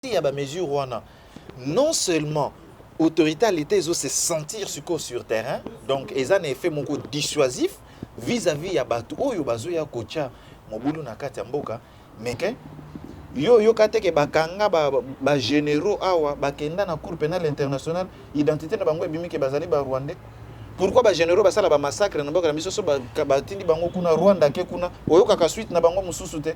partie ya ba mesures wana non seulement autorité ya leta ezo se sentir sikoyo sur terrain donc eza na effet moko dissuasif vis-à-vis ya bato oyo bazoya kotya mobulu na kati ya mboka meke yo oyoka te ke bakanga bagénéraux ba awa bakenda na cour pénal international identité na bango ebimi ke bazali barwandais pourquoi bagénéraux basala bamassacre na mboka na biso so batindi bango kuna rwanda ke kuna oyokaka suite na bango mosusu te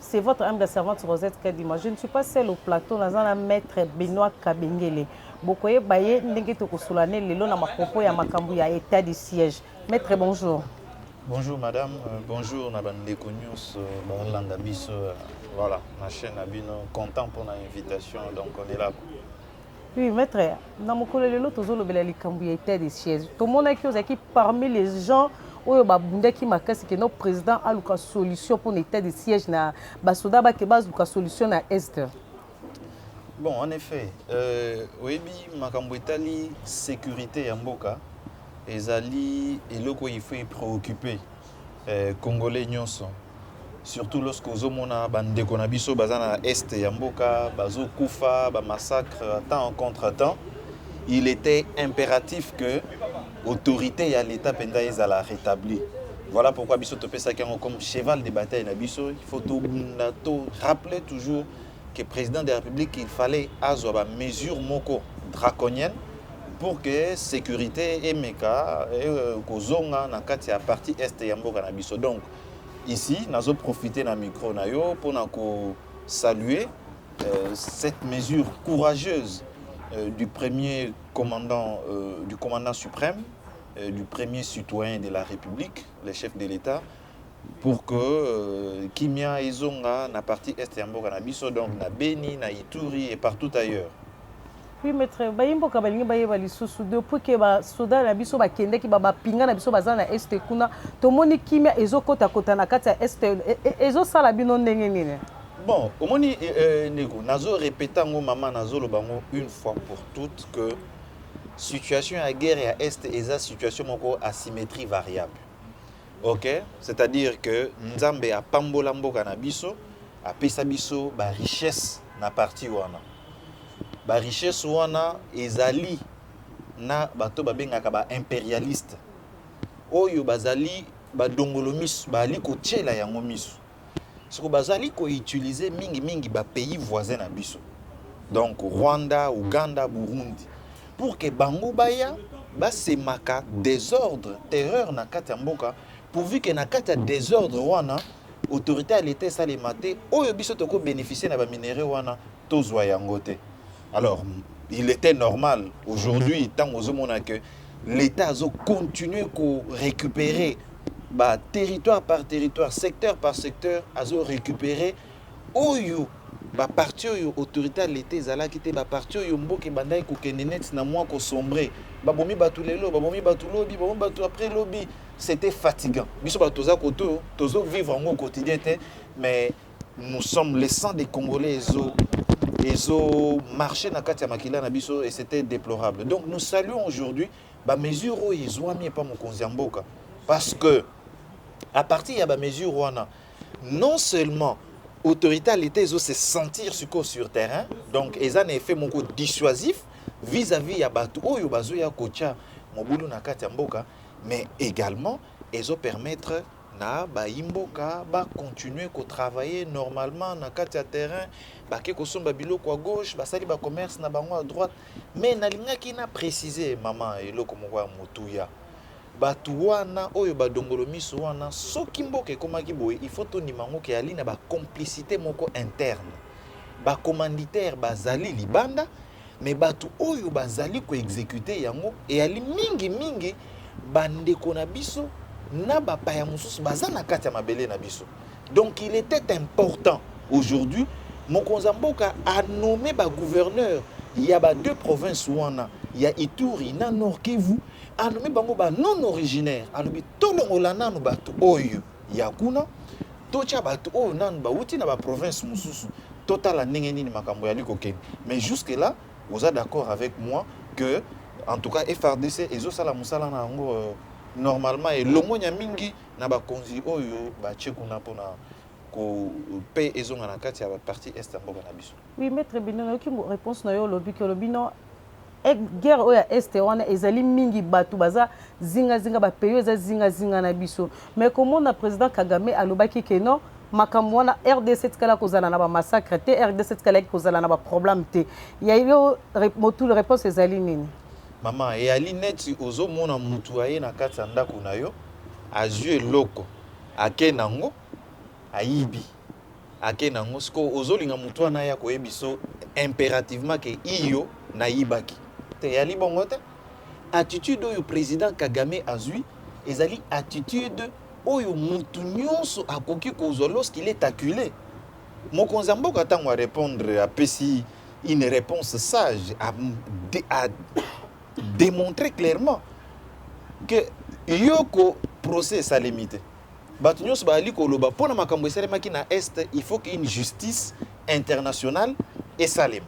C'est votre âme de servante Rosette Kadima. Je ne suis pas seule au plateau, naza na maître Benoît Kabengele. Bokoyeba ye ndenge tokosola ne lelo na makopo ya makambo ya état du siège. Maître bonjour. Bonjour madame, euh, bonjour na bandeko nyonso balanda biso euh, voilà na chaîne na bino content pour na invitation donc on est là. Oui, maître, na mokolo lelo tozolobela likambo ya état de siège. Tomonaki ozalaki parmi les gens oyo babundaki makasi ke no président aluka solution mpo na état de siège na basoda bake baluka solution na est. Bon, en effet, euh, oyebi makambo etali sécurité ya mboka ezali eloko il faut préoccuper eh, congolais nyonso surtout lorsque ozomona bandeko na biso baza na est ya mboka bazokufa bamassacre temps en contre temps il était impératif que autorité ya l'état mpenza ezala rétablie voilà pourquoi biso topesaki yango comme cheval de bataille na biso il faut tobunda to rappeler toujours que president de la Republique il fallait azwa ba mesures moko draconiennes pour que sécurité emeka e, euh, kozonga na kati ya partie est ya mboka na biso donc ici nazo profiter na micro na yo mpona ko saluer euh, cette mesure courageuse euh, du premier commandant euh, du commandant suprême euh, du premier citoyen de la République le chef de l'État pour que euh, kimia ezonga na partie est ya mboka na biso donc na Beni na Ituri et partout ailleurs Oui, maître, bayi mboka balingi bayeba lisusu depuis que basoda na biso bakendaki bapinga na biso baza na este kuna tomoni kimia ezokotakota na kati ya este e- e- ezosala bino ndenge nini bon omoni eh, eh, ndeko nazo répète yango mama nazoloba yango une fois pour toutes que situation ya guerre ya est eza situation moko asymétrie variable ok c'est à dire que nzambe apambola mboka na biso apesa biso ba richesse na parti wana ba richesse wana ezali na bato babengaka ba imperialiste oyo bazali badongolo miso bazali kotyela yango miso Soko bazali ko utiliser mingi mingi ba pays voisins na biso. Donc Rwanda, Ouganda, Burundi pour que bango baya basemaka desordre, terreur na kati ya mboka pourvu que na kati ya desordre wana autorité ya l'etat esalema te oyo biso toko bénéficier na ba minerais wana tozwa yango te. Alors, il était normal aujourd'hui, mhm. tant aux hommes que l'État a continué à récupérer bah, territoire par territoire, secteur par secteur, a récupéré oyo ba parti oyo autorité ya leta ezalaki te ba parti oyo mboka ebandaki kokende neti na mwa kosombre babomi bato lelo babomi bato lobi babomi bato après lobi c'était fatigant biso bato toza koto tozo vivre yango au quotidien te mais nous sommes les sang des congolais ezo ezo marcher na kati ya makila na biso et c'était déplorable donc nous saluons aujourd'hui ba mesures oyo ezwami epa mokonzi ya mboka parce que à partir ya ba mesures wana non seulement autorité ya leta ezo se sentir sikoyo sur terrain donc eza na effet moko dissuasif vis-à-vis ya bato oyo bazoya kotya mobulu na kati ya mboka mais également ezo permettre na bayi mboka ba continuer ko travailler normalement na kati ya terrain, bake kosomba biloko à gauche, basali ba commerce na bango à droite, mais nalingaki na preciser mama eloko moko ya motuya bato wana oyo badongolo miso wana soki mboka ekomaki boye il faut tondima yango ke ali na bacomplicité moko interne bacommanditaire bazali libanda mais batu oyo bazali ko executer yango eyali mingi mingi ba ndeko na biso na ba paya mususu baza na kati ya mabele na biso donc il était important aujourd'hui mokonza mboka a nommé ba gouverneur ya ba deux provinces wana ya Ituri na Nord Kivu a nommé bango ba non originaire alobi tolongola nanu batu oyo ya kuna totya bato oyo oh, nanu bauti na baprovince mosusu totala ndenge nini makambo yali kokende mais jusque là oza d'accord avec moi que en tout cas frdc ezosala mosala na yango euh, normalement elongonya mingi na bakonzi oyo batye kuna mpona mpe ezonga na kati ya baparti est ya mboka na biso oui maître bino nayoki réponse na yo olobi ke olobi no Guerre oyo ya Est wana ezali mingi batu baza zinga zinga ba pays eza zinga zinga na biso mais komona president Kagame alobaki que non makambo wana rdc etikala kozala na ba massacre te rdc etikalaki kozala na ba problème te ya yo motul réponse ezali nini mama eyali neti ozomona mutu aye na kati ya ndako na yo azwi eloko ake nango ayibi ake na ngo siko ozolinga mutu wana ya koyebiso imperativement ke iyo nayibaki te yali bongo te attitude oyo président Kagame azui ezali attitude oyo mutu nyonso akoki kozwa lorsqu'il est acculé mokonzi ya mboka ntango arépondre apesi une réponse sage a, de, a démontré clairement que yoko procès esalemi te Batu nionso bazali koloba pona makambo esalemaki na Est, il faut que une justice internationale esalema.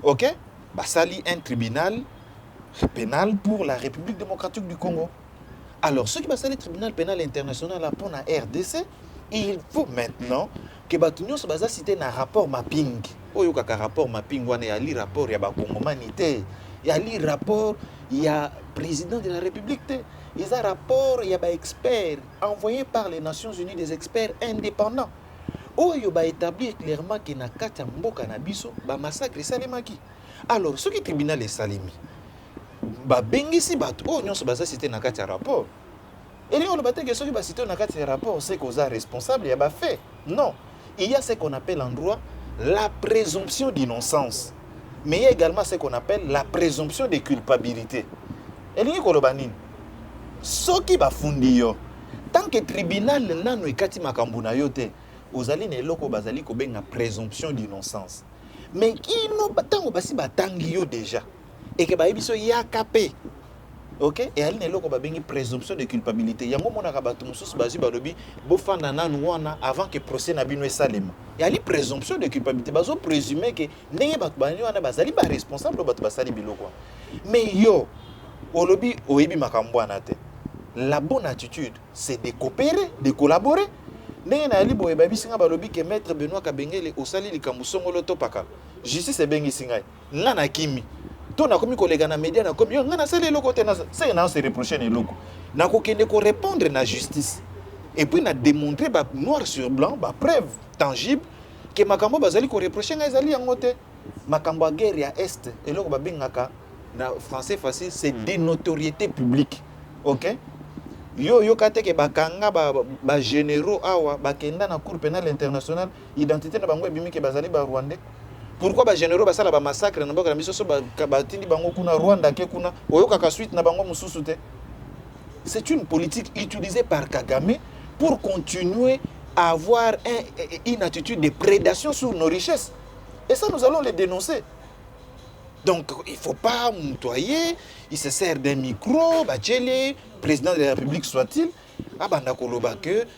Ok? Basali un tribunal penal pour la Republique democratique du Congo. Alors, soki basali tribunal penal international là pona RDC, il faut maintenant que batu nionso baza cité na rapport mapping. Oyo kaka rapport mapping wana ya li rapport ya ba Congomani te. Ya li rapport ya président de la République te. eza rapport ya ba experts envoyé par les Nations Unies des experts indépendants oyo ba établir clairement que na kati ya mboka na biso ba massacre esalemaki alors soki tribunal esalemi babengisi bato oyo nyonso baza site na kati ya rapport elingi oloba te ke soki basite oyo na kati ya rapport seke oza responsable ya bafait Non, il y a ce qu'on appelle en droit la présomption d'innocence. Mais il y a également ce qu'on appelle la présomption de culpabilité. elingi koloba nini soki bafundi yo tant que tribunal nano ekati makambo na yo te ozali na eloko bazali kobenga présomption d'innocence mais kino ntango basi batangi yo déjà eke bayebi so yaka mpe ok eyali na eloko babengi présomption de culpabilité yango omonaka bato mosusu bazwi balobi bofanda nanu wana avant que procès na bino esalema eyali présomption de culpabilité bazo présume ke ndenge bato bani wana bazali baresponsable oyo bato basali biloko wana mais yo olobi oyebi makambo wana te la bonne attitude c'est de coopérer de collaborer ndenge nayali boye babisi ngai balobi ke maître benoit kabengele osali likambo songolo topakala justice ebengisi ngai nga na kimi to nakomi koleka na media nakomi yo nga nasali eloko te seke na se reproche na eloko nakokende korépondre na justice et puis na démontrer ba noir sur blanc ba preuve tangible ke makambo bazali koreproche ngai ezali yango te makambo ya guerre ya est eloko babengaka na français facile c'est hmm. des notoriétés publiques ok yo oyoka te ke bakanga bagénéraux ba awa bakenda na cour pénal international Identite na bango ebimi ke bazali ba Rwandais. Pourquoi ba generaux basala ba massacre na mboka na biso so batindi bango kuna Rwanda ke kuna oyokaka suite na bango mususu te. C'est une politique utilisée par Kagame pour continuer à avoir un, une attitude de prédation sur nos richesses. Et ça, nous allons les dénoncer. Donc, il ne faut pas moutoyer, il se sert d'un micro, Bachele, président de la République soit-il, abanda koloba que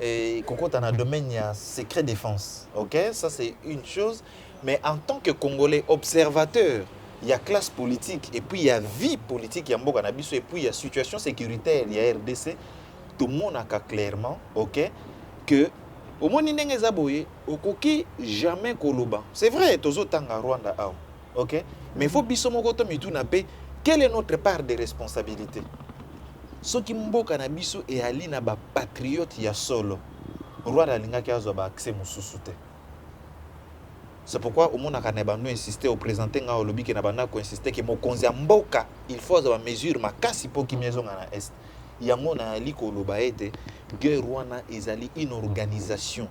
et kokota na domaine ya secret défense ok ça c'est une chose mais en tant que congolais observateur il y a classe politique et puis il y a vie politique ya mboka na biso et puis il y a situation sécuritaire ya rdc tomonaka clairement ok que omoni ndenge eza boye okoki jamais koloba c'est vrai tozotanga rwanda awa ok mais faut biso moko to mituna pe quelle est notre part de responsabilité soki mboka na biso eyali na ba patriote ya solo rwanda alingaki azwa ba accès mosusu te c'est pourquoi omonaka na bando insiste opresente ngai olobi ke na banda koinsiste ke mokonzi ya mboka il faut azwa bamesure makasi mpo kimia ezonga na est yango nayali koloba ete guerre wana ezali une organisation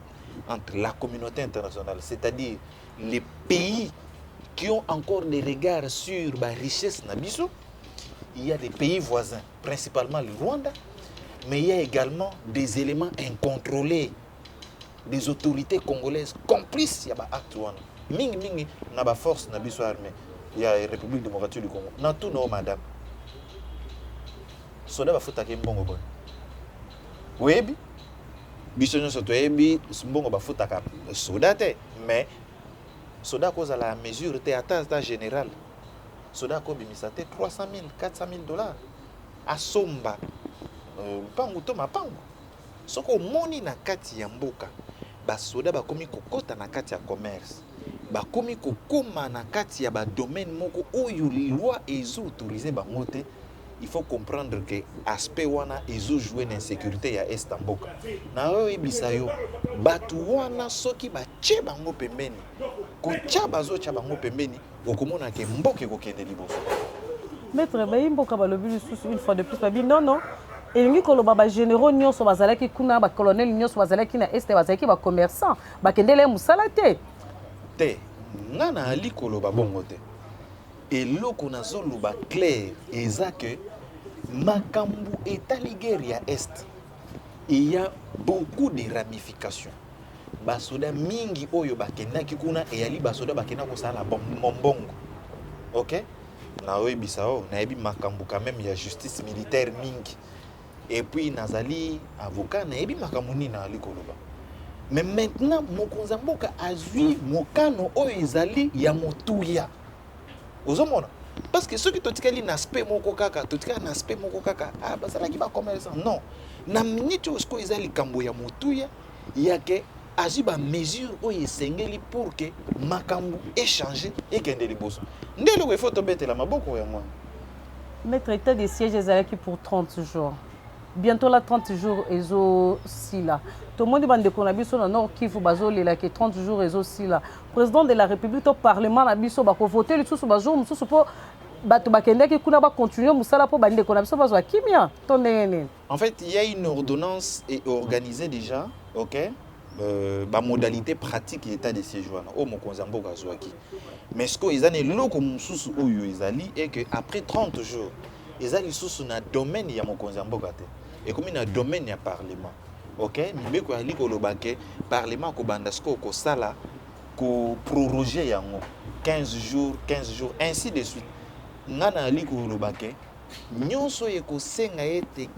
entre la communauté internationale c'est-à-dire les pays qui ont encore des regards sur ba richesse na biso il y a des pays voisins principalement le Rwanda mais il y a également des éléments incontrôlés des autorités congolaises complices ya ba acte wana mingi mingi na ba force na biso armée ya république démocratique du congo na tout nao madame soda bafutaki mbongo boni oyebi biso nyonso toyebi mbongo bafutaka soda te mais soda akozala ya mesure te ata ata général soda akobimisa te 300 000 400 000 dollars asomba euh, mpangu to mapangu soki omoni na kati ya mboka basoda bakomi kokota na kati ya commerce bakomi kokoma na kati ya badomaine moko oyo lilwa ezoautorize bango te il faut comprendre que aspect wana ezo jouer na insécurité ya est ya mboka na oyo oyebisa yo bato wana soki batye bango pembeni kotya bazotya bango pembeni okomona ke mboka ekokende liboso maître bayi mboka balobi lisusu une fois de plus babi non non elingi koloba bagénéraux nyonso bazalaki kuna bacolonel nyonso bazalaki na este bazalaki bacommerçant bakendela ye mosala te te nga naali koloba bongo te Eloko nazo loba claire eza que makambu etali guerre ya est il ya beaucoup de ramifications basoda mingi oyo bakendaki kuna eyali basoda bakenda kosala mombongo ok naoyebisa o nayebi makambo quand même ya justice militaire mingi et puis nazali avocat nayebi makambo nini nazali koloba mais maintenant mokonzi ya mboka azwi mokano oyo ezali ya motuya ozomona parce que soki totikali na aspect moko kaka totikali na aspect moko kaka ah, bazalaki bacommerçant non na minute oyo sikoyo eza likambo ya motuya yake azwi bamesure oyo esengeli pour ke makambo echange ekende liboso nde eloko efo tobetela maboko yango wana Maitre etat de siège ezalaki pour 30 jours bientôt la 30 jours ezo sila tomoni ba ndeko na biso na Nord Kivu bazo lela ke 30 jours ezo sila président de la république to parlement na biso bako voter lisusu ba jours mususu po bato bakendaki kuna ba continuer musala po ba ndeko na biso bazwa kimia to ndenge nini En fait, il y a une ordonnance et organisée déjà, ok euh, ba modalité pratique ya état de séjour wana oyo mokonzi ya mboka azwaki mais sikoyo eza na eloko mosusu oyo ezali e que après 30 jours eza lisusu na domaine ya mokonzi ya mboka te ekomi na domaine ya parlement ok mibeko yali koloba ke parlement akobanda sikoyo kosala koproroge yango 15 jours 15 jours ainsi de suite ngai nayali koloba ke Nionso oyo ekosenga ete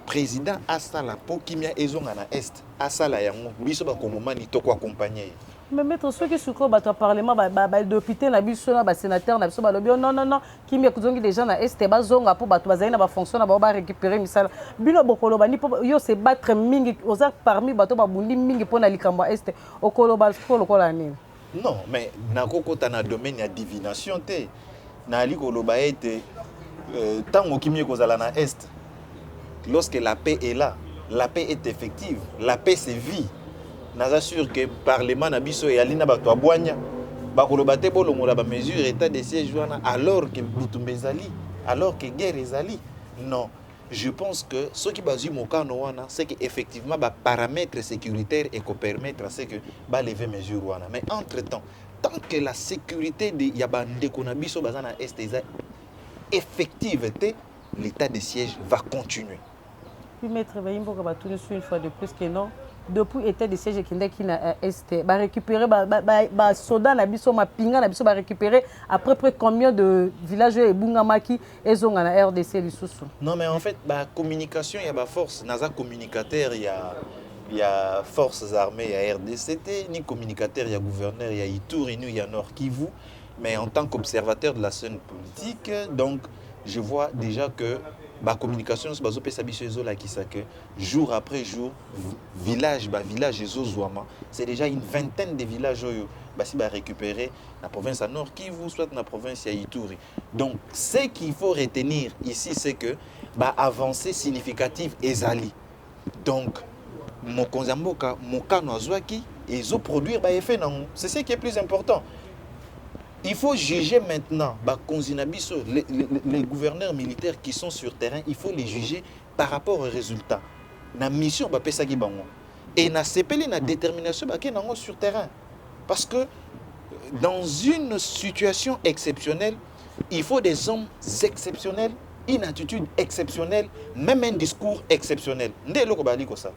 president asala mpo kimia ezonga na Est, asala yango. Biso bakongomani toko accompagner ye. Mais maitre soki sikoyo bato ya parlement ba, ba, ba depute na biso na ba senateur na biso balobi oh, non non non kimia ekuzongi deja na est bazonga po bato bazali na ba fonction na bango ba récupérer misala bino bokoloba ni po yo se battre mingi oza parmi bato babundi mingi pona likambo ya est okoloba sikoyo lokola nini Non, mais nako kota na domaine ya divination te. Nayali koloba ete euh, tango kimie kozala na est lorsque la paix est là, la paix est effective, la paix c'est vie. Naza sûr que parlement na biso eyali na bato ya bwanya bakoloba te bolongola ba mesure état de siège wana alors que butumba ezali, alors que guerre ezali. Non. Je pense que soki bazui mokano wana c'est que effectivement ba paramètres sécuritaires et ko permettre à ce que ba lever mesure wana mais entre temps tant que la sécurité de ya ba ndeko na biso baza na est eza effective te l'état de siège va continuer puis maître bayimboka batuni sur une fois de plus que non depuis état de siège ekendaki na euh, est barécupéré basoda na biso mapinga na biso barécupéré à peu près combien de village oyo ebungamaki ezonga na rdc lisusu non mais en fait ba communication ya ba force naza communicateur ya ya forces armées ya rdc te ni communicateur ya gouverneur ya ituri ni ya nord kivu mais en tant qu'observateur de la scène politique donc je vois déjà que ba communication nyonso bazopesa biso ezolakisa que jour après jour village ba village ezozwama c'est déjà une vingtaine de village oyo basi barécupéré na province ya nord kivu soit na province ya ituri Donc, ce qu'il faut retenir ici, c'est que ba avancée significative ezali. Donc, mokonzi ya mboka mokano azwaki ezoproduire baeffet nango c'est ce qui est plus important il faut juger maintenant bakonzi na biso les, les, les gouverneurs militaires qui sont sur terrain il faut les juger par rapport au resultat na mission bapesaki bango et nasepeli na determination bake nango sur terrain parce que dans une situation exceptionnelle il faut des hommes exceptionnels une attitude exceptionnelle même un discours exceptionnel nde eloko bazali kosala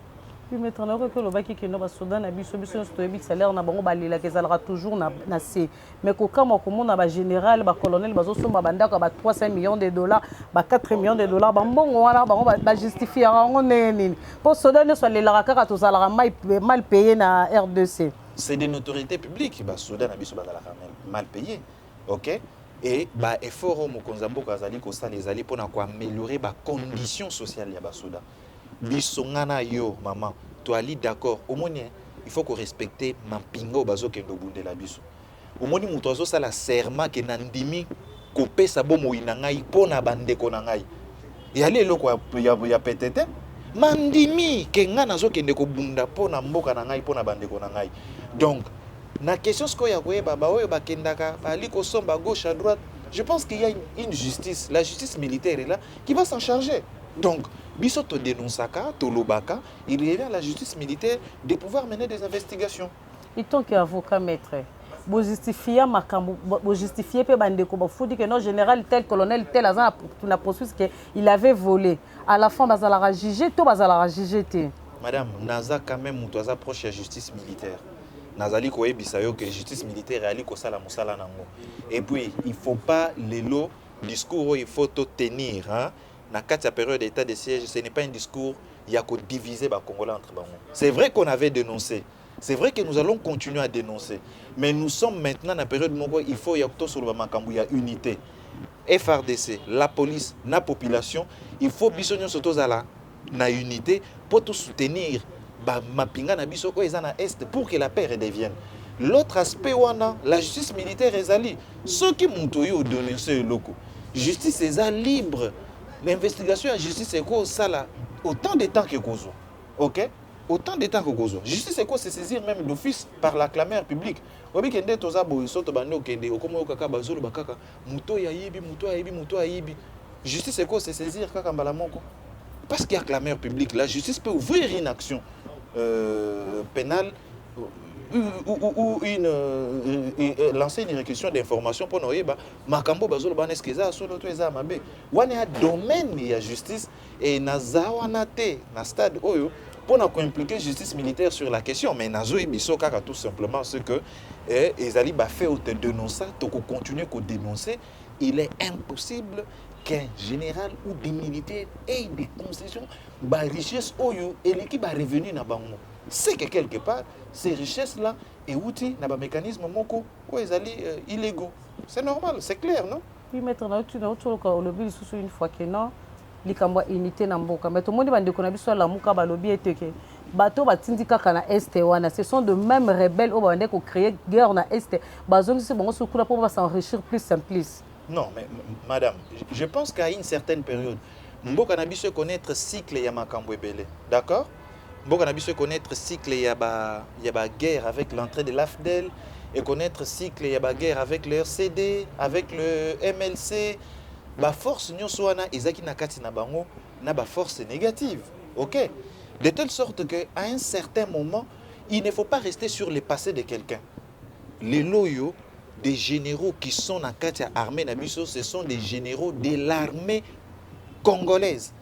maître nayoki olobaki kino basoda na biso biso nyonso toyebi salaire na bango balelaka ezalaka toujours na se Mais kokamwa komona ba general ba colonel bazosomba bandako ya ba 300 millions de dollars ba 4 millions de dollars bambongo wana bango bajustifiaka yango ndenge nini mpo soda nyonso alelaka kaka tozalaka mal paye na rdc c'est de notoriété publique basoda na biso bazalaka mal paye ok e baeffort oyo mokonzi ya mboka azali kosala ezali mpona koameliore bacondition sociale ya basoda Biso nga na yo maman toali d'accord omoni hein il faut ko respecter mampinga oyo bazo kende obundela biso omoni moto azo sala serment ke na ndimi kopesa bomoyi na ngai mpo na bandeko na ngai eyali eloko ya, ya, ya pete te mandimi ke ngai nazokende kobunda mpo na mboka na ngai mpo na bandeko na ngai donc na question sikoyo ya koyeba baoyo bakendaka baali kosomba gauche à droite je pense qu'il y a une, une justice la justice militaire est là qui va s'en charger donc biso to denonsaka tolobaka il revient à la justice militaire de pouvoir mener des investigations en tant que avocat maître bojustifia makambo bojustifie mpe bandeko bafuti ke non général tel colonel tel aza na processus ke il avait volé à la fin bazalaka juge to bazalaka juge te madame naza quand même moto aza proche ya justice militaire nazali koyebisa yo ke justice militaire eyali kosala mosala nango et puis il faut pas lelo Discours oyo il faut to tenir hein na kati ya periode ya etat de siège ce n'est pas un discours ya ko diviser ba congolais entre bango c'est vrai qu'on avait dénoncé c'est vrai que nous allons continuer à dénoncer mais nous sommes maintenant na periode moko il faut ya tosoloba makambo ya unité frdc la police na population il faut biso nyonso tozala na unité mpo to soutenir ba mapinga na biso oyo eza na est pour que la paix redevienne l'autre aspect wana la justice militaire ezali soki moto oyo odonese eloko justice eza libre na investigation ya justice ekosala autant de temps ekozwa ok autant de temps kokozwa justice eko se saisir même d'office par la clameur publique oyebi ke nde toza boye so tobandi okende okomi oyokaka bazoloba kaka moto oyo ayibi moto oyo ayibi moto oyo ayibi justice eko se saisir kaka mbala moko parce qu'il y a clameur publique la justice peut ouvrir une action euh, pénale ou, ou, ou une, euh, euh, lancer une réquisition d'information mpo na oyeba makambo bazoloba wana eske eza ya solo to eza ya mabe wana ya domaine ya justice Et naza wana te na stade oyo pour na impliquer justice militaire sur la question mais nazo biso kaka tout simplement ce que eh, ezali ba fait ou te dénoncer to ko continuer ko dénoncer il est impossible qu'un général ou des militaires aient des concessions ba richesse oyo eleki ba revenu na bango c'est que quelque part ces richesses là euti na ba mécanisme moko oyo ezali euh, illégaux c'est normal c'est clair non Oui, maître, na uti na uti oloka olobi lisusu une fois que non likambo ya unité na mboka mais tomoni bandeko na biso ya lamuka balobi ete ke bato oyo batindi kaka na este wana ce sont de même rebelle oyo babandaki kocréer guerre na este bazongisi bango soki kuna mpo basenrichir plus en plus non mais madame je pense qu'à une certaine période mboka na biso econnaître cycle ya makambo ebele d'accord mboka na biso e connaître cycle ya ba ya ba guerre avec l'entrée de l'AFDL et connaître cycle ya ba guerre avec le RCD avec le MLC ba force nyonso wana ezaki na kati na bango na ba force négative OK de telle sorte que à un certain moment il ne faut pas rester sur le passé de quelqu'un les loyaux des généraux qui sont na kati ya armée na biso ce sont des généraux de l'armée congolaise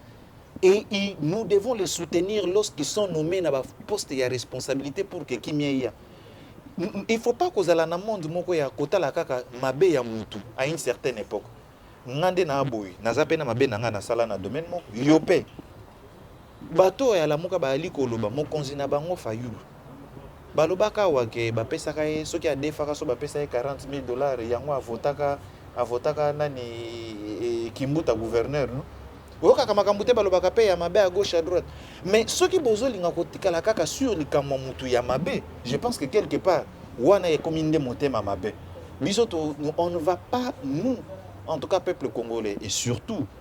et il, nous devons les soutenir lorsqu'ils sont nommés na ba poste ya responsabilité pour que kimia eya il faut pas kozala na monde moko ya kotala kaka mabe ya mutu à une certaine époque nga nde na boye naza pe na mabe na nga nasala na domaine moko yo pe bato oyo alamuka bayali koloba mokonzi na bango fayulu Balobaka awa que bapesaka ye soki adefaka so bapesa ye 40 mille dollars yango avotaka avotaka nani eh, kimbuta gouverneur no oyokaka makambo te balobaka mpe ya mabe à gauche à droite mais soki bozolinga kotikala kaka sur likambo ya motu ya mabe je pense que quelque part wana ekomi nde motema mabe biso on ne va pas nous en tout cas peuple congolais et surtout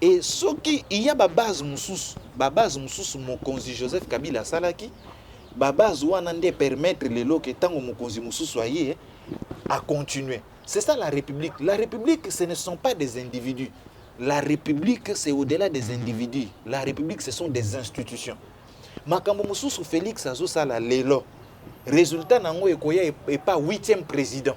Et soki il y a ba base mususu, ba base mususu mokonzi Joseph Kabila asalaki, ba base wana nde permettre lelo ke tango mokonzi mususu aye a continuer. C'est ça la République. La République, ce ne sont pas des individus. La République, c'est au-delà des individus. La République, ce sont des institutions. Makambo mususu Félix azosala lelo. Résultat nango ekoya epa 8e président.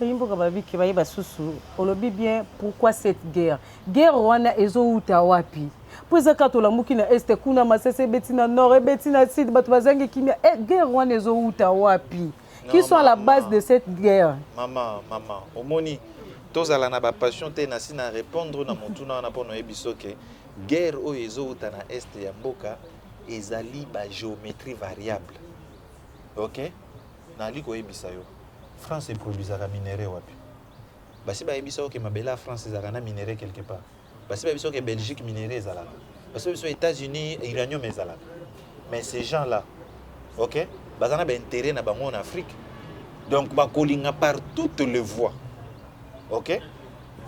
Bayi mboka ba bike baye basusu olobi bien pourquoi cette guerre guerre wana ezo uta wapi po eza kaka tolamuki na est kuna masese ebeti na nord ebeti na sud bato bazangi kimia e eh, guerre wana ezo uta wapi qui sont à la base de cette guerre mama mama omoni tozala na bapassion te na si na répondre na motuna wana mpo noyebi soke guerre oyo ezowuta na este ya mboka ezali bagéométrie variable ok nali koyebisa yo france eproduisaka minere wapi basi bayebisa oke mabele ya france ezalaka na minere quelque part basi bayebisa oke belgique minere ezalaka basi bayebisa états-unis uranium ezalaka mais ces gens là ok baza na baintérêt na bango en afrique donc bakolinga par toutes les voies ok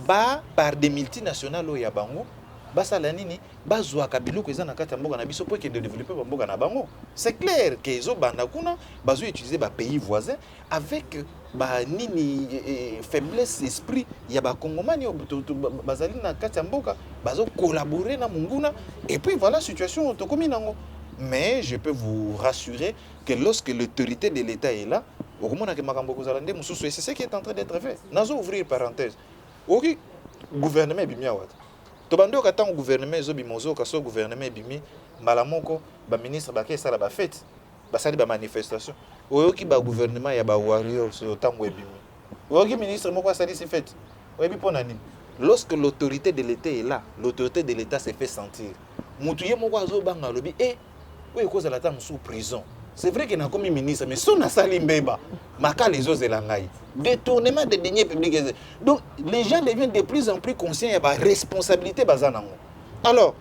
ba par des multinationales oyo ya bango basala nini bazwaka biloko eza na kati ya mboka na biso mpo ekende développer ba mboka na bango c'est clair que ezobanda kuna bazo utiliser ba pays voisins avec ba nini eh, eh, faiblesse esprit ya bakongomani oyo to- to- ba- bazali na kati ya mboka bazo collaborer na monguna et puis voilà situation oyo tokomi nango mais je peux vous rassurer que lorsque l'autorité de l'état est là okomonaka makambo ekozala nde mosusu et c'est ce qui est en train d'être fait nazo ouvrir parenthèse okoki gouvernement ebimi awa te Tobandi oyoka tango gouvernement ezo bima ozo yoka soki gouvernement ebimi mbala moko ba ministre ba ke sala ba fete ba sali ba manifestation oyoki ba gouvernement ya ba warriors oyo tango ebimi oyoki ministre moko asalisi fete oyebi pona nini lorsque l'autorité de l'etat est là l'autorité de l'etat se fait sentir mutu ye moko azo banga alobi eh oyo ekozala ata mosusu prison c'est vrai que nakomi ministre mais so nasali mbeba makala ezozela ngai détournement de denier public donc les gens deviennent de plus en plus conscients ya baresponsabilité baza nango alors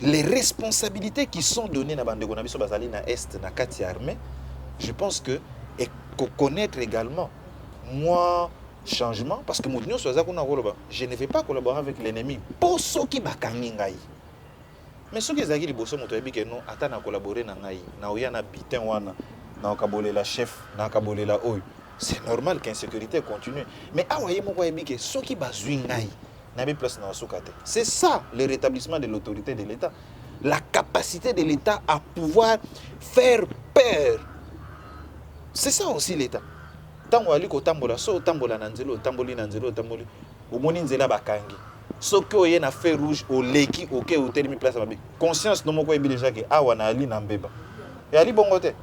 les responsabilités qui sont données na bandeko na biso bazali na est na kati ya armée je pense que ekoconnaître également moi changement parce que moto nyonso aza kuna koloba je ne vais pas collaborer avec l'ennemi mpo soki bakangi ngai mais soki ezalaki liboso moto ayebi ke no ata na collabore na ngai na oya na bitin wana na okabolela chef na akabolela oyo c'est normal que insécurité continue mais awa ye moko ayebi ke soki bazwi ngai nayebi place na osuka te c'est ça le rétablissement de l'autorité de l'état la capacité de l'état à pouvoir faire peur c'est ça aussi l'état ntango ali kotambola so otambola na nzela otamboli na nzela otamboli omoni nzela bakangi soki oye na feu rouge oleki oke otelemi place mabe conscience no moko oyebi déjà ke awa na ali na mbeba eyali bongo te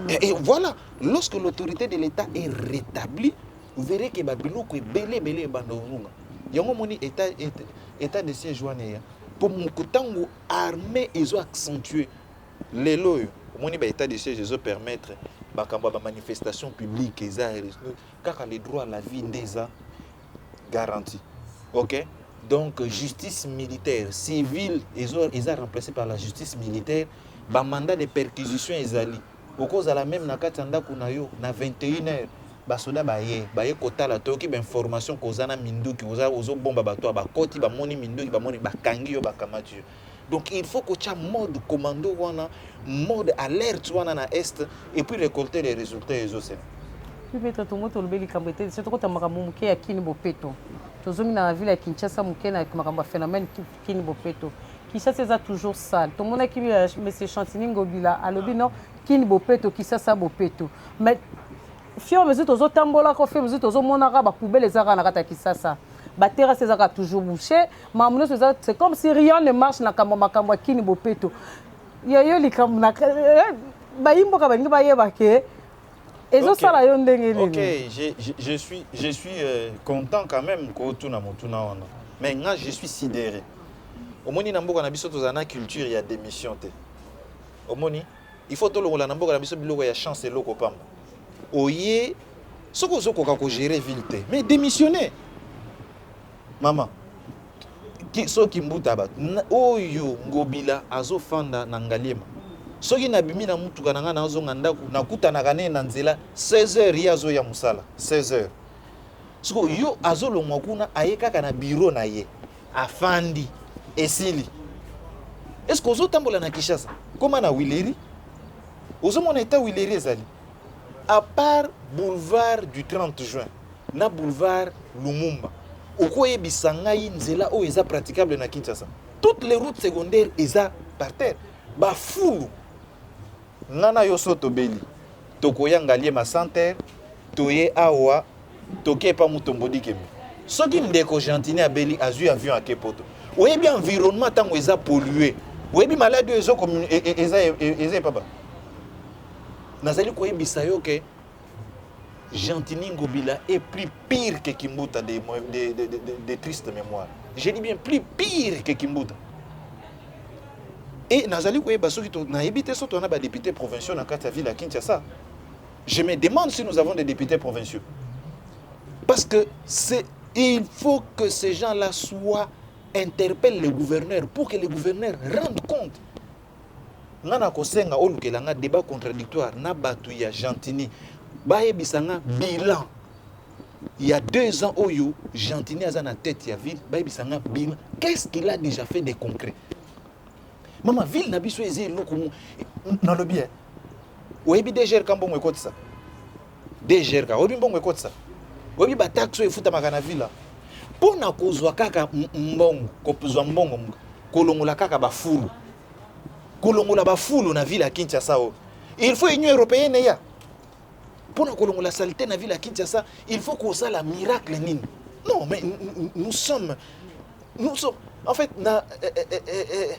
et, et voilà lorsque l'autorité de l'état est rétablie vous verrez ke babiloko ebele ebele ebanda ozonga yango omoni état, état, état de siège wana eya mpo moko ntango armée ezo accentue lelo oyo omoni ba état de siège ezo permettre makambo ya bamanifestation publique eza kaka le droit à la vie nde eza garantie ok donc justice militaire civile eza remplacé par la justice militaire bamanda de perquisition ezali okozala meme na kati ya ndako na yo na 21 heure basoda baye baye kotala toyoki bainformation koza na minduki ozobomba bato ya bakoti bamoni minduki bamoni bakangi yo bakamati yo Donc il faut kotia mode commando wana, mode alerte wana na est et puis récolter les résultats ezo sema. Pipeta tongo tolobi likambo ete biso tokota makambo moke ya kini bopeto tozongi na ville ya kinshasa moke na makambo ya phénomène kini bopeto kinshasa eza toujours sale tomonaki euh, monsieur chantini ngobila alobi non kini bopeto kinshasa bopeto mais fior mesure tozotambolaka fior mesure tozomonaka bapoubele ezaka na kati ya kinshasa baterrasse ezaka toujours bouche mamu nyonso eza c'est comme si rien ne marche na kambo makambo ya kini bopeto yayo likambo na eh, bayi mboka balingi bayeba ke ezosala okay. yo ndenge nini okay. je, je, je suis, je suis euh, content quand même kotuna motuna wana mais nga je suis sidéré omoni na mboka na biso tozala na culture ya démission te omoni il faut tolongola na mboka na biso biloko ya chance eloko pamba oye soki ozokoka kogere ville te mais démissionner Maman, ki, so kimbuta bato oyo ngobila azofanda na ngaliema soki nabimi na motuka na ngai nazonga ndako nakutanaka naye na nzela 16 heures ye azoya mosala 16 heures siko yo azolongwa kuna aye kaka na biro na ye afandi esili eske ozotambola na kinshasa koma na wileri ozomona eta wileri ezali apart boulevard du 30 juin na boulevard Lumumba okoyebisa ngai nzela oyo eza praticable na Kinshasa toutes les routes secondaires eza par terre bafulu nga na yo so tobeli tokoya ngaliema center toye awa toke epa mutombo dikembe soki ndeko gentini abeli azwi avion ake poto oyebi environnement ntango eza pollue oyebi maladi oyo ezo e, e, eza epaba nazali koyebisa yo ke Gentini Ngobila est plus pire que Kimbuta de, de, de, de, de triste mémoire. Je dis bien plus pire que Kimbuta. Et nazali koyeba soki nayebi te soki tona badepute provinciaux na kati ya ville ya Kinshasa. Je me demande si nous avons des députés provinciaux. Parce que c'est il faut que ces gens-là soient interpellent le gouverneur pour que le gouverneur rende compte nga na kosenga olukela nga debat contradictoire na batu ya Gentini bayebisa nga bilan ya deux ans oyo Gentini aza na tête ya ville bayebisa nga bilan qu'est-ce qu'il a déjà fait de concret mama ville na biso eza eloko nalobi ye oyebi DGR Kambongo ekotisa DGRK oyebi mbongo ekotisa oyebi bataxe oyo efutamaka na villa mpo na kozwa kaka mbongo kozwa mbongo kolongola kaka bafulu kolongola bafulu na ville ya kinshasa oyo il faut union européenne eya mpo na kolongola salite na ville ya kinshasa il faut kosala miracle nini non mais nous sommes nous sommes en fait na eh, eh, eh, eh, eh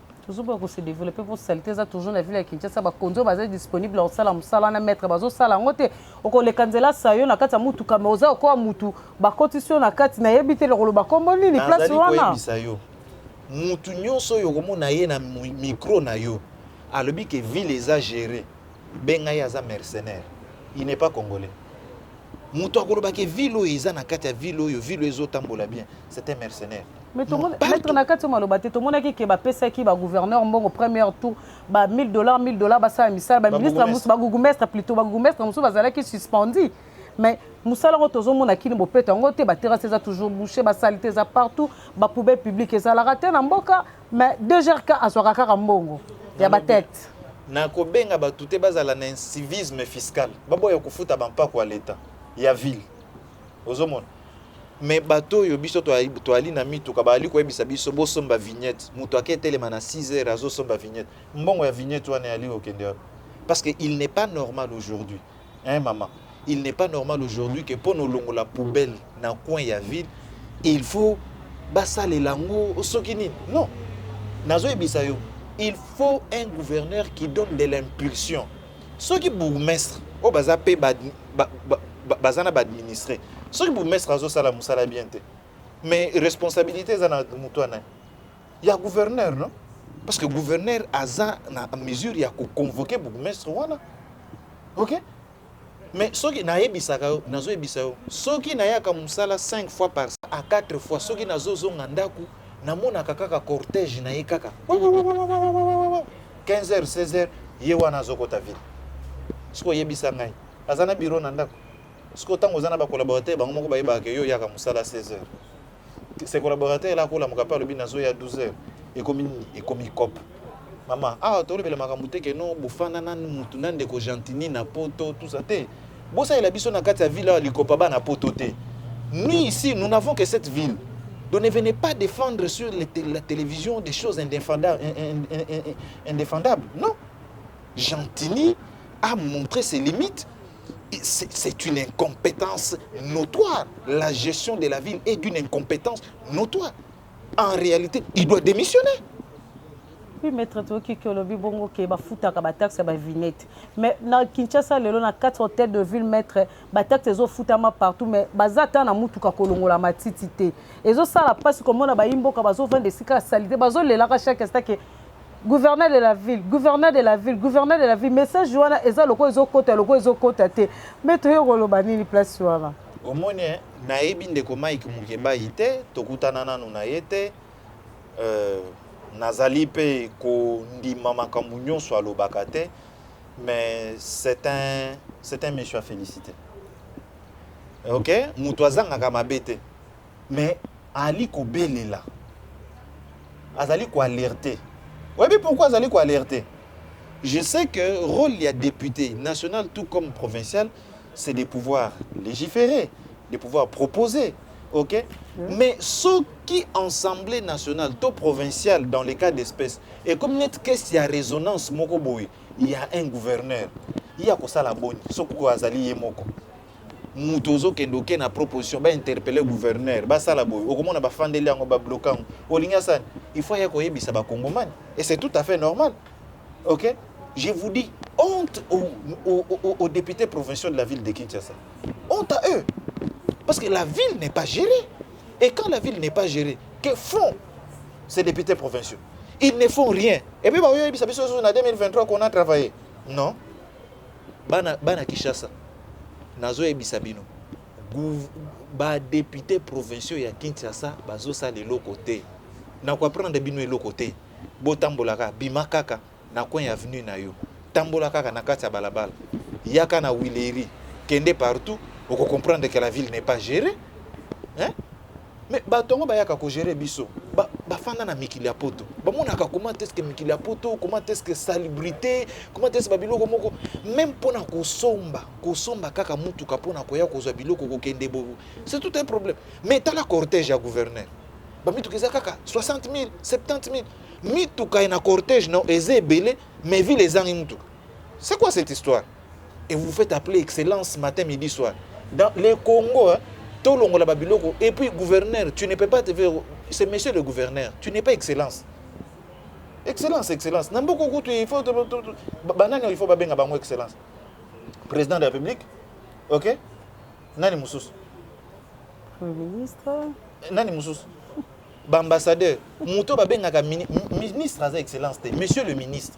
toujours ba ko se développer pour salite eza toujours na ville ya Kinshasa ba konzo baza disponible au sala musala na maître bazo sala ngo te okoleka nzela sayo na kati ya mutu kama oza okoa mutu bakotisi yo na kati nayebi te lokoloba kombo nini place wana nazali koyebisa yo mutu nyonso oyo okomona ye na micro na yo alobi ke ville eza géré benga ye aza mercenaire il n'est pas congolais moto akoloba ke ville oyo eza na kati ya ville oyo ville oyo ezotambola bien c'est un mercenaire maître na kati maloba te tomonaki ke bapesaki bagouverneur mbongo première tour ba 1000 dollars 1000 dollars basala misala baministre mosusu bagugumestre plutôt bagugumestre mosusu bazalaki suspendi mais mosala yango tozomona kini bopeto yango te baterase eza toujours bouche basalite eza partout bapoubelle publique ezalaka te na mboka mais dgrk azwaka kaka mbongo ya batete na kobenga bato te bazala na incivisme fiscal baboya kofuta bampako ya leta ya ville ozomona me bato oyo biso toali na mituka baali koyebisa biso bosomba vignette moto ake etelema na 6 heures azosomba vignette mbongo ya vignette wana yali kokende wapi parce que il n'est pas normal aujourd'hui hein maman il n'est pas normal aujourd'hui que mpo na olongola poubelle na coin ya ville il faut basalela yango soki nini non nazoyebisa yo il faut un gouverneur qui donne de l'impulsion soki bourgmestre oyo baza mpe baza na baadministre soki bourgmestre azosala mosala bien te mais responsabilité eza na moto wana ya gouverneur non parce que gouverneur aza na mesure ya ko convoquer bourgmestre wana ok mais soki nayebisaka yo nazoyebisa yo soki nayaka mosala 5 fois par à 4 fois soki nazozonga ndako namonaka kaka cortège na ye kaka 15 h 16 h ye wana azokota ville soki oyebisa ngai aza na biro na ndako soki ntango oza na bakolaborateur bango moko bayebaka yo oyaka mosala 16 h ses collaborateurs là ko lamuka pe alobi nazo ya 12 heures ekomi nini ekomi cop mama awa ah, tolobela makambo te keno bofanda na mutu na ndeko gentini na poto tout ça te bosalela biso na kati ya ville awa likopa bana poto te nous ici nous n'avons que cette ville donc ne venez pas défendre sur les, la télévision des choses indéfendables, indéfendables non gentini a montré ses limites c'est une incompétence notoire. La gestion de la ville est d'une incompétence notoire. En réalité, il doit démissionner. Oui, maître Toki Kolobi Bongo qui ba fouta ba taxe ba vinette. Mais na Kinshasa lelo na quatre hôtels de ville maître ba taxe zo fouta ma partout mais bazata na mutu ka kolongola matiti te. Ezo sala passe comme na ba imboka bazo vendre sika salite bazo lelaka chaque instant que Gouverneur de la ville, gouverneur de la ville, gouverneur de la ville, message wana eza lokola ezo kota lokola ezo kota te. Mais toye koloba nini place wana? Omoni eh, nayebi ndeko Mike Mukembayi te, tokutana nanu na ye te. Euh, nazali mpe kondima makambo nyonso alobaka te mais c'est un, c'est un monsieur à féliciter ok moto azangaka mabe te Mais ali kobelela azali ko alerte oyebi pourquoi azali ko alerte je sais que rôle ya député national tout comme provincial c'est de pouvoir légiférer de pouvoir proposer ok mm. mais soki assemblée nationale to provinciale dans les cas d'espèce ekomi neti kesi ya résonance moko boye ya un gouverneur ye akosala boni soki oyo azali ye moko moto ozokende oke na proposition ba interpelle gouverneur basala boye okomona bafandeli yango babloka yango olingi asala il faut aya koyebisa bakongomani et c'est tout à fait normal ok je vous dis honte aux, aux, aux, aux députés provinciaux de la ville de kinshasa honte à eux parce que la ville n'est pas gérée et quand la ville n'est pas gérée que font ces députés provinciaux ils ne font rien et puis baoyebisa biso ozo na 2023 qu'on a travaillé non bana bana Kishasa nazo yebisa bino ba députés provinciaux ya Kinshasa bazo sala eloko te na ko apprendre bino eloko te botambolaka bima kaka na coin ya avenue na yo tambola kaka na kati ya balabala yaka na Wileri kende partout oko comprendre que la ville n'est pas gérée hein Mais batu yango bayaka ko gerer biso ba ba fanda na mikili ya poto ba monaka comment est-ce que mikili ya poto comment est-ce que salubrite comment est-ce ba biloko moko même pona kosomba kosomba kaka mutuka pona koya kozwa biloko kokende bo c'est tout un problème mais tala cortège ya gouverneur ba mituka eza kaka 60 000 70 000 mituka na cortège na eza ebele mais ville ezangi mutuka c'est quoi cette histoire et vous vous faites appeler excellence matin midi soir dans le Congo hein, tolongola ba biloko et puis gouverneur tu ne peux pas te faire c'est monsieur le gouverneur tu n'es pas excellence excellence excellence na mboka kutu il faut banani il faut babenga bango excellence président de la république ok nani mosusu premier ministre nani mosusu baambassadeur moto babengaka ministre aza excellence te monsieur le ministre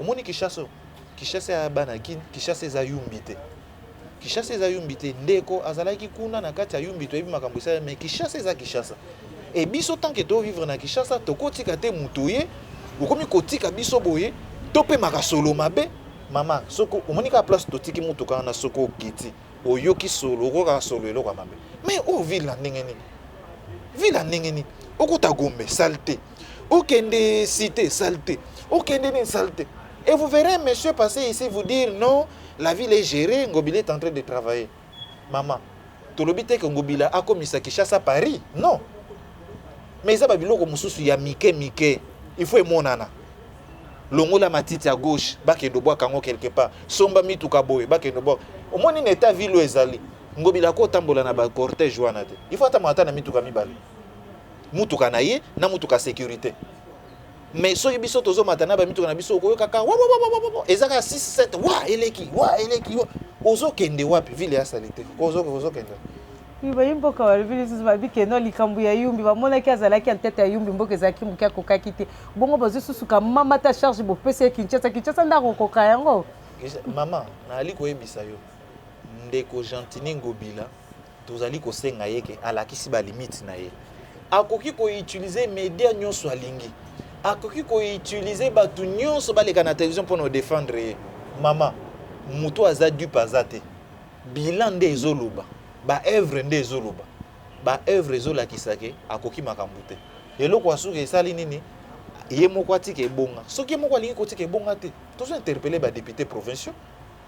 Omoni Kinshasa oyo? Kinshasa ya bana kin, Kinshasa eza yumbi te. Kinshasa eza yumbi te. Ndeko azalaki kuna na kati ya yumbi toyebi makambo esala mais Kinshasa eza Kinshasa. Et biso tant que to vivre na Kinshasa tokotika te mutu ye okomi kotika biso boye topemaka solo mabe mama soko omoni kaka place totiki motuka wana soko okiti oyoki solo okokaka solo eloko ya mabe mais oyo oh, ville na ndenge nini ville ya ndenge nini okota gombe sale te Okende cite salite, okende nini salite. Et vous verrez un monsieur passer ici vous dire non, la ville est gérée, Ngobila est en train de travailler. Maman, tolobi te que Ngobila akomisa Kinshasa Paris, non. Mais eza ba biloko mosusu ya mike mike, il faut emonana. longola matiti ya gauche bakende obwaka yango quelque part somba mituka boye bakende obwaka omoni na etat ville oyo ezali ngobila ko otambola na bacortège wana te il faut atambola ata na mituka mibale mutuka na ye na mutuka securite mais soki biso tozomata na bamituka na biso okoyokaka eza kaka 67 wa eleki wa eleki ozokende wapi vile ya salite ozokende bayi mboka balobi lisusu babi keno likambo ya yumbi bamonaki azalaki ya ntete ya yumbi mboka ezalaki moke akokaki te bongo bazwi susu kamama ta charge bopesi ye kinshasa kinshasa nde akokoka yango mama nayali koyebisa yo ndeko gentini ngobila Tozali kosenga ye ke alakisi ba limite na ye. Akoki ko utiliser media nyonso alingi. Akoki ko utiliser bato nyonso baleka na television mpo na odefendre ye. Mama, moto aza dupe aza te. Bilan nde ezoloba. Ba œuvre nde ezoloba. Ba œuvre ezolakisa ke akoki makambo te. Eloko ya suka esali nini? Ye moko atika ebonga. Soki ye moko alingi kotika ebonga te, tozo interpeller ba deputes provinciaux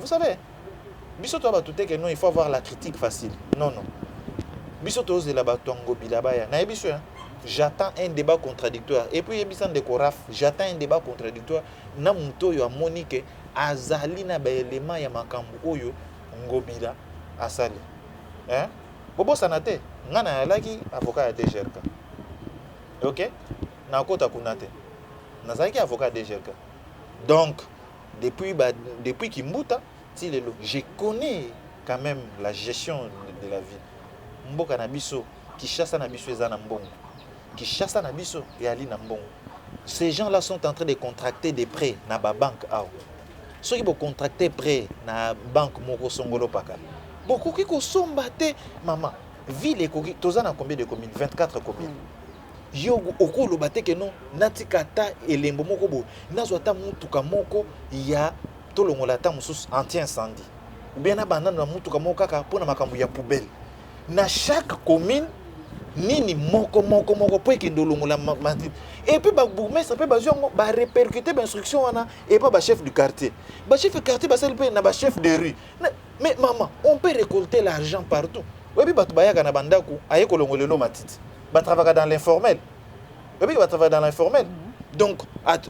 vous savez biso toya bato te ke non il faut avoir la critique facile non non biso tozela bato ya ngobila baya nayebi biso j'attends un débat contradictoire et puis yebisa ndeko raf j'attends un débat contradictoire na moto oyo amoni ke azali na baelema ya makambo oyo ngobila asali eh? bobosana te ngai nayalaki avocat ya dgrk ok nakota kuna te nazalaki avocat ya dgrk donc Depuis ba depuis kimbuta ti lelo je connais quand meme la gestion de la ville mboka na biso Kishasa na biso eza na mbongo Kishasa na biso eyali na mbongo ces gens là sont en train de contracter des prêts na ba banque awa soki bo contracter prêt na banque moko songolo paka bokoki kosomba te mama ville ekoki toza na combien de communes 24 communes mm. Yo okoloba te que non natika ata elembo moko boye nazwa ata mutuka moko ya tolongola ata mosusu anti incendie ou bien nabanda na mutuka moko kaka mpo na makambo ya poubelle na chaque commune nini moko moko moko mpo ekende olongola matine epuis babourgmestre mpe bazwi yango barepercute bainstruction wana epa bachef du quartier bachef du quartier basali mpe na bachef de rue mais mama on peut récolter l'argent partout oyebi bato bayaka na bandako aye kolongolelo matiti ba travaillaka dans l'informel oyebi ke ba travaillaka dans l'informel mhm. donc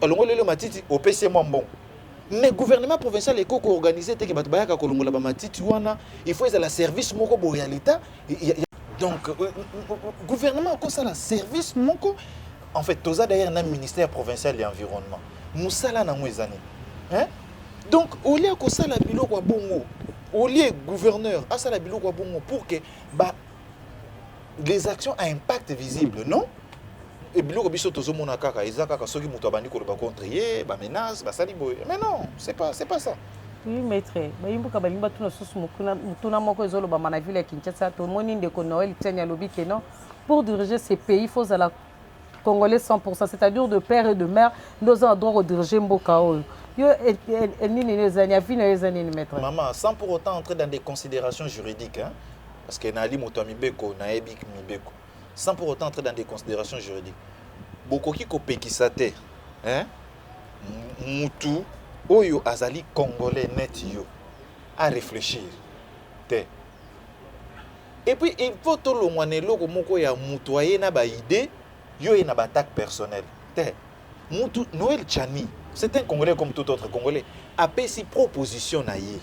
alongoli lelo matiti opesi ye mwa mbongo mais gouvernement provincial eko koorganize te ke bato bayaka kolongola bamatiti wana il faut ezala service moko boye ya leta donc euh, euh, euh, gouvernement akosala service moko en fait toza d'ailleurs na ministère provincial ya environnement mosala nango eza nini hein? donc olie akosala biloko ya bongo olie gouverneur asala biloko ya bongo pour ke ba les actions à impact visible non et biloko biso tozomona kaka eza kaka soki moto abandi koloba contre ye bamenace basali boye mais non c'est pas, c'est pas ça oui maître bayimbuka balingi batuna lisusu motuna moko ezolobama na ville ya kinshasa tomoni ndeko noel tiani alobi ke non pour diriger ce pays faut ozala congolais 100% c'est-à-dire de père et de mère nde oza na droit kodirige mboka oyo yo eh, eh, eh, nini eza nini avi na yo eza nini maître mama sans pour autant entrer dans des considérations juridiques hein? Parce que Nali moto ya mibeko, nayebi mibeko. Sans pour autant entrer dans des considérations juridiques. Bokoki kopekisa te. Hein? Mutu oyo azali congolais net yo à réfléchir te et puis il faut tolongwa na eloko moko ya moto aye na baide yo ye na baattaque personnelle te mutu noel chani c'est un congolais comme tout autre congolais apesi proposition na ye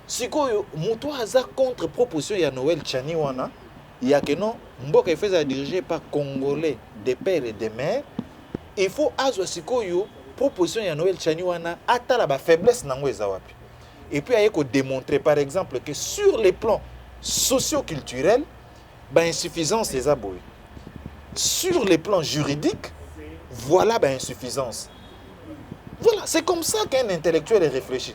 Sikoyo mutu aza contre proposition ya Noël Tchani wana ya que non mboka ifo ezala dirige par congolais de père et de mère il faut azwa sikoyo proposition ya Noël Tchani wana atala ba faiblesse nango eza wapi et puis aye ko démontrer par exemple que sur les plans socio-culturels ba insuffisance eza boye sur les plans juridiques voilà ba insuffisance voilà c'est comme ça qu'un intellectuel réfléchit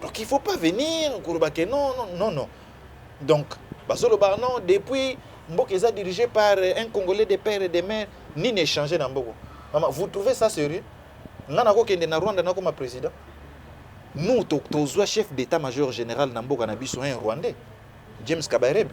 Donc il faut pas venir koloba que non non non non. Donc bazoloba non depuis mboka eza dirigé par un congolais de père et de mère nini échanger na mboko. Mama vous trouvez ça sérieux? Nga nakokende na Rwanda nakoma président. Nous tozwa chef d'état major général na mboka na biso un rwandais James Kabarebe.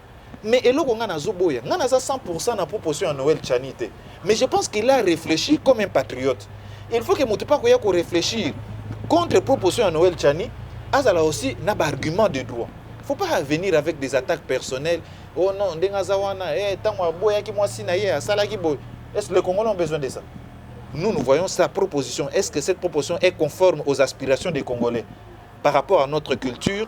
Mais eloko nga nazo boya, nga naza 100% na proposition ya Noël Tshani te. Mais je pense qu'il a réfléchi comme un patriote. Il faut que moto pa koya ko réfléchir contre proposition ya Noël Tshani, azala aussi na ba arguments de droit. Faut pas venir avec des attaques personnelles. Oh non, ndenge aza wana, eh tango aboyaki mwasi na ye asalaki boye. Est-ce que les Congolais ont besoin de ça? Nous, nous voyons sa proposition. Est-ce que cette proposition est conforme aux aspirations des Congolais par rapport à notre culture,